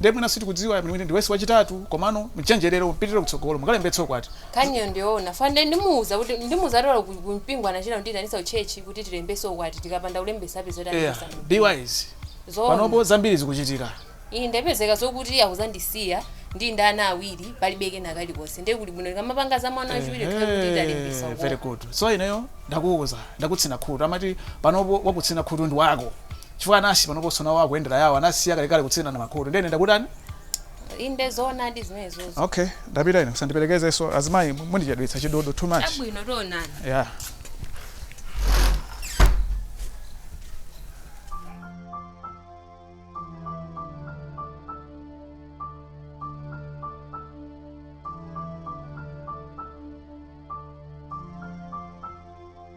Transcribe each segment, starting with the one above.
Nde mwina sitikudziwa mwini ine ndi wife wachitatu komano mchenjerere mupitirire kutsogolo mukalembetse ukwati. Nkhaniyo ndiyowona chifukwa nde ndimuwuza kuti ndimuwuza kuti olo ku ku mpingo anachita kundiyitanitsa ku church kuti tilembetse ukwati tikapanda kulembetsa apezeka kuti Eya andiyimitsabe mumpingo. wise Zowona. panopo zambiri zikuchitika. Ine ndapezeka zokuti akuzandisiya ndili ndi ana awiri palibe kena kalikonse nde kuli bwino ndikamapanga za mwana wachiwiri tikhale kuti talembetsa Ehe very ukwati. good so ineyo ndakuwuza ndakutsina khutu amati panopo wakutsina khutu ndi mnansi wako. chifukwa anasi panoponso nawo akuyendera yawo anasiya kalekale kutsinana makutu ndiye ine ndakutani inde zoonadi zimenezozo okay ndapita ine musandiperekezenso azimayi mundichedwetsa chidodo too much chabwino tionana yeah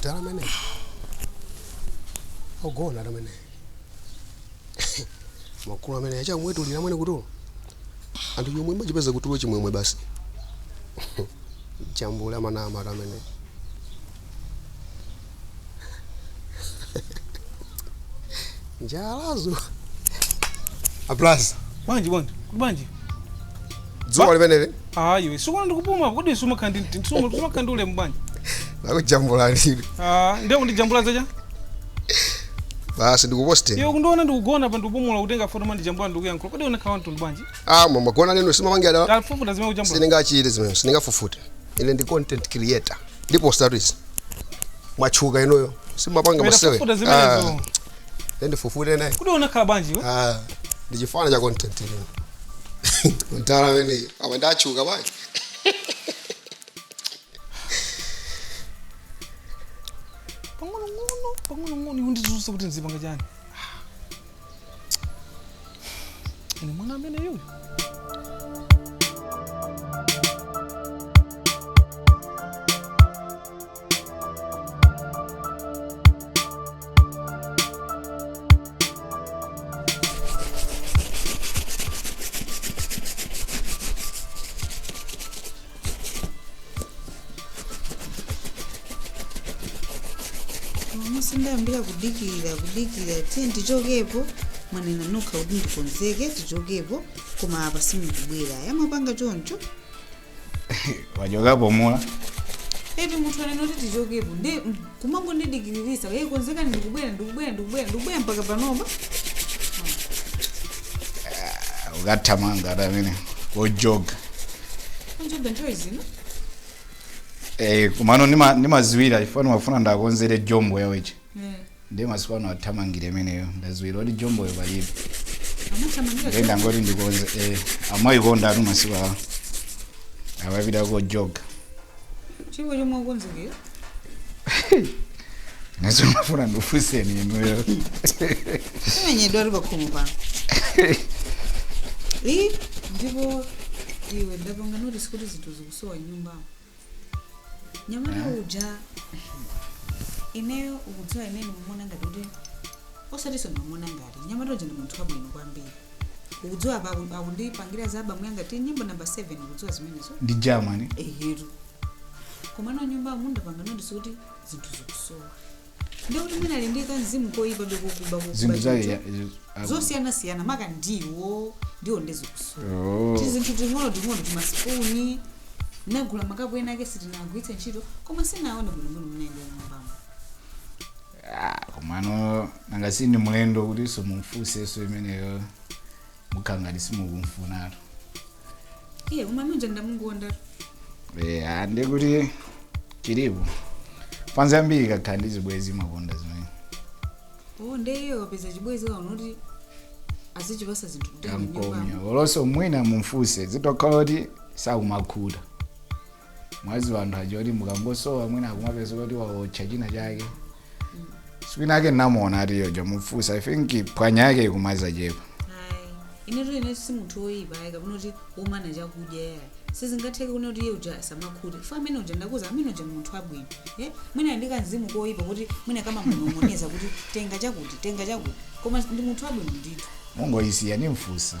odala amene ogona ati amene akulu amene akumwetulira amene kutulo anthu chomwe amachipeza kutulo chimwemwe basi chambula manama ati amene njala zapulaza bwanji bwanji kuti bwanji dzuwa limeneli ayi sukuona ndikupuma kodi sumakhala ndi ndi- sumu- sumakhala ndi ulemu bwanji lakujambula lili Ah, ndiye kundijambula zachani basi ndikuposte iwe kundiona ndikugona pa ndikupumula kutenga foto ma ndijambula ndikuyankhula kodi unakhala mtundu bwanji ah mama gona neno simamangira tafufuta zimene wajambula sindingachite zimene sindingafufute ine ndi content creator ndipo osati izi mwatchuka inuyo simapanga Wena masewera fufuta zimenezo. Ah, ndifufute naye kuti unakhala bwanji iwe Ah, ndi chifana cha content ino mtala amene apa ndatchuka bwanji pang'onong'ono pang'onong'ono iwe ndifunse kuti nzipanga chani Ine mwana ameneyu. mmene ndayambira kudikira kudikira tiye tichokepo mwanena nokha kuti ndikonzeke tichokepo koma apa simukubwera yamapanga choncho wachokapo Mula eti munthu wanena kuti tichokepo nde kumangondidikiriritsa hey, konzekani ndikubwera ndikubwera ndikubwera ndikubwera mpaka panopa ukathamanga ati amene kojoga anjoga nthawi ino Eh, kumano ndima- ndimaziwira chifukwa ndimafuna ndakonzere jombo yawoyo Eh, ndiye masiku ano athamangira imeneyo ndaziwira kuti jomboyo palibe amathamangira ndiye ndangoti ndikonze eh, amayikondatu masiku awa akapita kojoga chilipo chomwe ndakonzekera ndimafuna ndikufuseni inuyo timenyedwe ali pakhomo pano ndipo iwe ndapanga notice kuti zinthu zikusowa nyumbamo nyamata uja ineyo ukudziwa ineyo ndimamona ngati kuti osatinso ndimamona ngati nyamata uja ndi munthu wabwino kwambiri ukudziwa apa aku- akundipangira za abamu yanga ati nyimbo namba 7 ukudziwa zimenezo ndi germany eyetu komano nyumbamu ndapanga notice zoti zinthu zikusowa ndikuti mwina ali ndi kamzimu koyipa akukuba zinthu zake ya- ya- zosiyanasiyana maka ndiwo ndiwo nde zikusowa Oh. tizinthu ting'ono ting'ono timasipuni ndagula makapu ena ake sitinagwiritse ntchito koma sindiwaona bwinobwino mmene ayendera nyumbamo Ah, komano nanga si ndi mlendo kuti tsono mumfunsenso imeneyo mukhala ngati simukumfunatu iye umamudziwa ndamkonda Eh, ah, ndi kuti chilipo fans yambiri kukhala ndi zibwezi amakonda zimenezo ndeyo kapeza chibwezi akaona kuti azichipasa zinthu kuti amkonde olonso mwina mumfunse zitokhala kuti sakumakhuta mwaziwa anthu aja kuti mukangochoka mwina akumapeza kuti waotcha china chake sikwina ake ndinamuona atiyotcha mufunsa i think bwana yake ikumachepa Ayi. inetu ine si munthu woyipa ayi kapena kuti womana chakudya yayi sizingatheke kunena kuti iye uja samakhute fa amene uja ndakuuza amene uja munthu wabwino eh? mwina ndi kanzimu koyipa kuti mwina kamamunong'oneza kuti tenga chakuti tenga chakuti koma ndi munthu wabwino ndithu mungoisiya ndimfunsa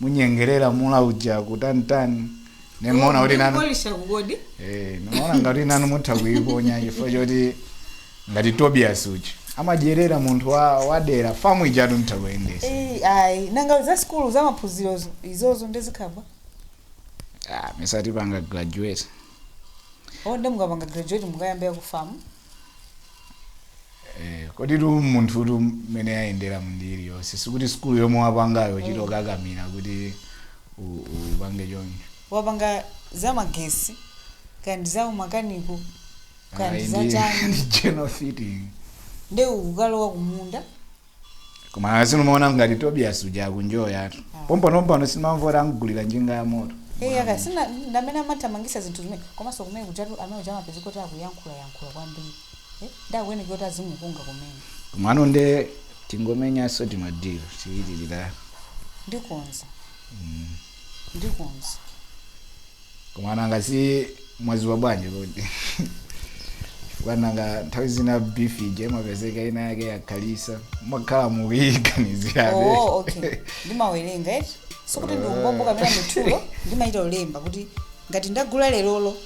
munyengerere mdala uja kutanitani ndimaona kuti nanu Polisha kodi. Eh, ndimaona ngati nanu mutha kuiponya chifukwa choti ngati tobias uja amadyera munthu wa- wadera famu ijatu mutha kuyendesa Eh, ayi nanga za sikulu za maphunziro zo- izozo ndi zinazake Ah, musati mwapanga graduate nde mukapanga graduate mukayambira ku famu Eh, kodi tu munthutu mmene yayendera mbali iliyonse sikuti sikulu yomwe wapangayo uchite kukakamira kuti u- u- upange choncho wapanga za magesi kandi za umakaniko kandi Ayi, za ndi- chani ndi general fitting nde ukukalowa kumunda koma akazino maona ngati tobias uja akunjoyatu pompanopompano simwamva amgulira njinga ya moto Eh, yaka sina ndamene amathamangisa zinthu zimene komanso kumene kujatu amene uja amapezeka kuti akuyankhula yankhula kwambiri eh, ndakuene kuti azimukunga kumene komano nde tingomenyanso timadiro tiyitirira ndikonza ndikonza koma nanga si mwaziwa bwanji kodi chifukwa nanga nthawi zina beef ija imapezeka ina yake yakhalitsa mwakhala mukuyiganizirabe oh okay ndimawerenga eti sikuti ndi umbombo kapena mitulo ndimachita kulemba kuti ngati ndagula lerolo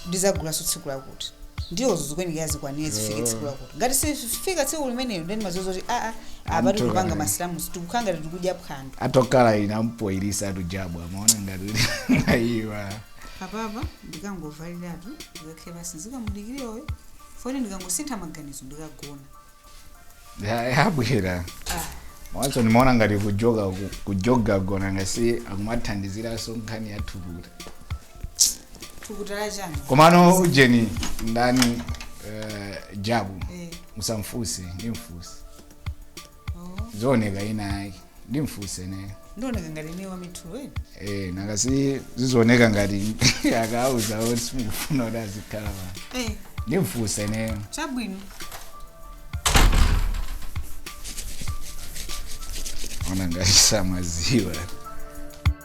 ndizagulaso tsiku lakuti ndiye izo zikuyenekera zikwanire zifike tsiku lakuti ngati sifika tsiku limenelo ndeni umadziwa zoti aa apa Amtoka. tikupanga masilamusi tikukhala ngati tikudya phwando atakhala ina mpoilisa tujabu amaona ngati aiwa apapa ndikangovaliratu ndikakhale pasi ndikamudikire uyo futi ndikangosintha maganizo ndikagona Ya- yabwera awanso ndimaona ngati kujoga ku- kujoga ndiona ngati akumathandiziranso nkhani ya thukuta thukuta la chani komano ujeni ndani eh, jabu Eh, musamfunse ndimfunse oh. zooneka ina yake ndimfunse ine ndioneka ngati ine wamitulo eni eh nangasi zizioneka ngati akauza kuti simufuna kuti azikhala pa Eh, ndimfunse ine chabwino ona ngati samaziwa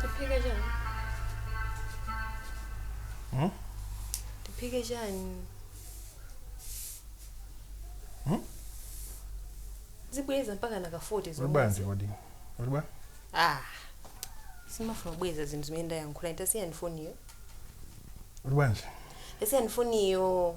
tiphike chani Hmm? tiphike chani Hmm? zibwereza mpaka naka 40 Uli bwanji kodi? Uli bwa? ah sindimafuna kubwereza zinthu zimene ndayankhula tasiyani foniyo Uli bwanji? tasiyani foniyo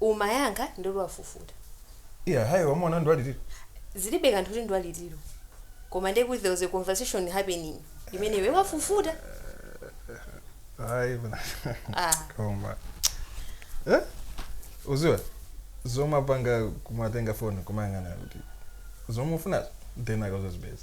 Umayankha nditi wafufuta. Iya hayi wamuona ndi wa litsiro. Zilibe kanthu kuti ndi wa litsiro koma ndiye kuti there was a conversation happening imene iwe wafufuta. Ayi bwana Ah. koma eh? uziwa zomwe apanga kumatenga foni kumayang'ana kuti zomwe akufunazo then akazazipeza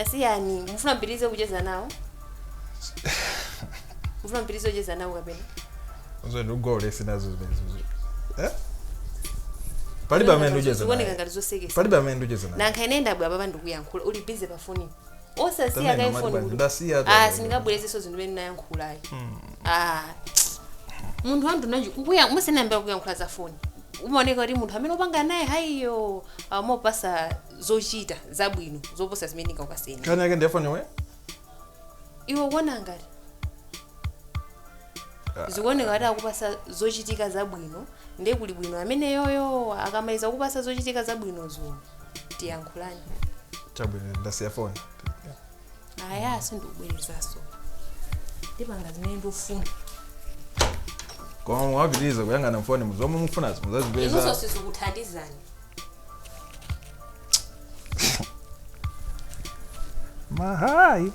asiyani mufuna mpitirize kucheza nawo mufuna mpitirize kucheza nawo kapena Zo google sinazo zimenezo. Eh? Palibe amene nducheza zikuoneka naye. ngati zosekesa Palibe amene nducheza naye. nanga ine ndabwera apa ndikuyankhula uli bize pa foni osasiya Tamene, kaye mati foni basi, kuti- ndasiya tu. Ah, sindingabwerezenso zinthu imene ndayankhula ayi Ah, munthu wamtundu wanji musanayambe kuyankhula za foni umaoneka kuti munthu amene upanga naye hayiyo amakupasa zochita zabwino zoposa zimene ndingakupase ine nkhani yake ndi ya foni iwe ukuona ngati zikuoneka kuti akupasa zochitika zabwino ndiye kuli bwino amene yoyo akamaliza kukupasa zochitika zabwinozo ndiyankhuleni chabwino ndasiya foni aya sindikubwerezaso ndipanga zimene ndikufuna koma mukapitiriza kuyang'ana mfonimu zomwe mufunazo inunso muzazipeza sizikuthandizani mahayi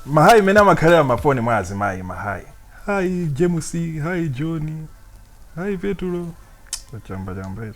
mahayi amene amakhala mmafoni mwa azimayi mahayi hayi james hayi john hayi petulo chamba chamba izo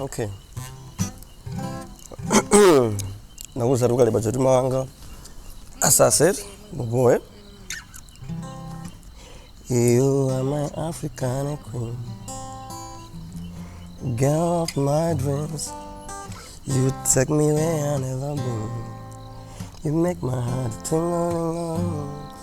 okay nakuza tukale bajeti mawanga asase mugoe You are my African queen, girl of my dreams. You take me where I never been. You make my heart tingle.